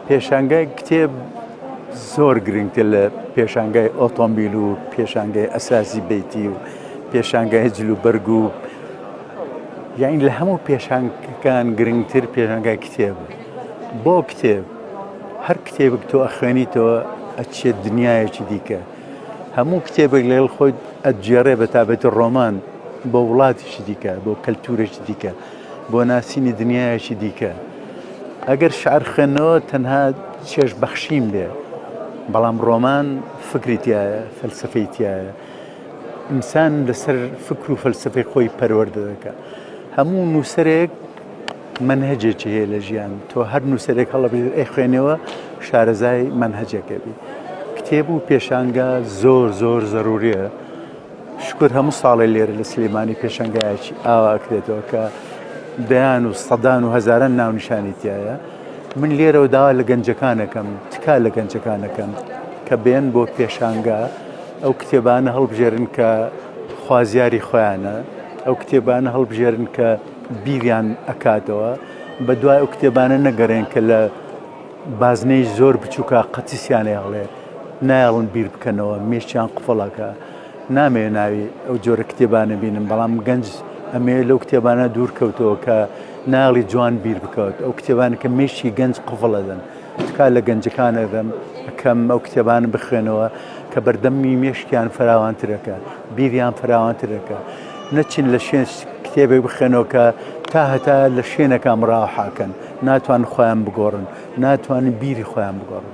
پێشانگای کتێب زۆر گرنگتر لە پێشانگای ئۆتۆمبیل و پێشانگای ئەساسی بیتی و پێشانگای جل و بەرگ و یاین لە هەموو پێشانگەکان گرنگتر پێشانگای کتێب بۆ کتێب هەر کتێبک تۆ ئەخوێنیتەوە ئەچێت دنیایەکی دیکە هەموو کتێبێک لەگەڵ خۆی ئەجێڕێ بە تابێتە ڕۆمان بۆ وڵاتیشی دیکە بۆ کەلتورێکی دیکە بۆ ناسینی دنیایەکی دیکە. ئەگەر شعر خوێندنەوە تەنها چێژ بەخشین بێ، بەڵام ڕۆمان فکری تایە، فەلسەفەی تایە. ئینسان لەسەر فکر و فەلسەفەی خۆی پەروەردە دەکە. هەموو نووسەرێک منهجێکی هەیە لە ژیان تۆ هەر نووسەرێک هەڵبژێر ئەی خوێنەوە شارەزای منهجەکەبی کتێب و پێشانگا زۆر زۆر زەروریە شکور هەموو ساڵێ لێرە لە سلێمانی پێشەنگایەکی ئاوا ئەکرێتەوە کە دەیان و سەدان و هەزاران ناونیشانی تایە من لێرەوە داوا لە گەنجەکانەکەم تکا لە گەنجەکانەکەم کە بێن بۆ پێشانگا ئەو کتێبانە هەڵبژێرن کە خوازیاری خۆیانە ئەو کتێبانە هەڵبژێرن کە بیریان ئەکاتەوە بە دوای ئەو کتێبانە نەگەڕێن کە لە بازنەی زۆر بچوکە قەتیسیان ئەیەڵێ نایەڵن بیر بکەنەوە مێشیان قفڵەکە نامەوێ ناوی ئەو جۆرە کتێبانە بینم بەڵام گەنج ئەمێ لەو کتێبانە دوور کەوتەوە کە ناڵی جوان بیر بکەوت ئەو کتێبان کە مێشی گەنج قفڵەدەن تکا لە گەنجەکانە دەم کەم ئەو کتێبان بخوێنەوە کە بەردەمی مێشکیان فراوانترەکە بیریان فراوانترەکە نەچن لە شوێن کتێبێک بخێنەوە کە تا هەتا لە شوێنەکە مراحاکەن ناتوان خۆیان بگۆڕن ناتوانن بیری خۆیان بگۆڕن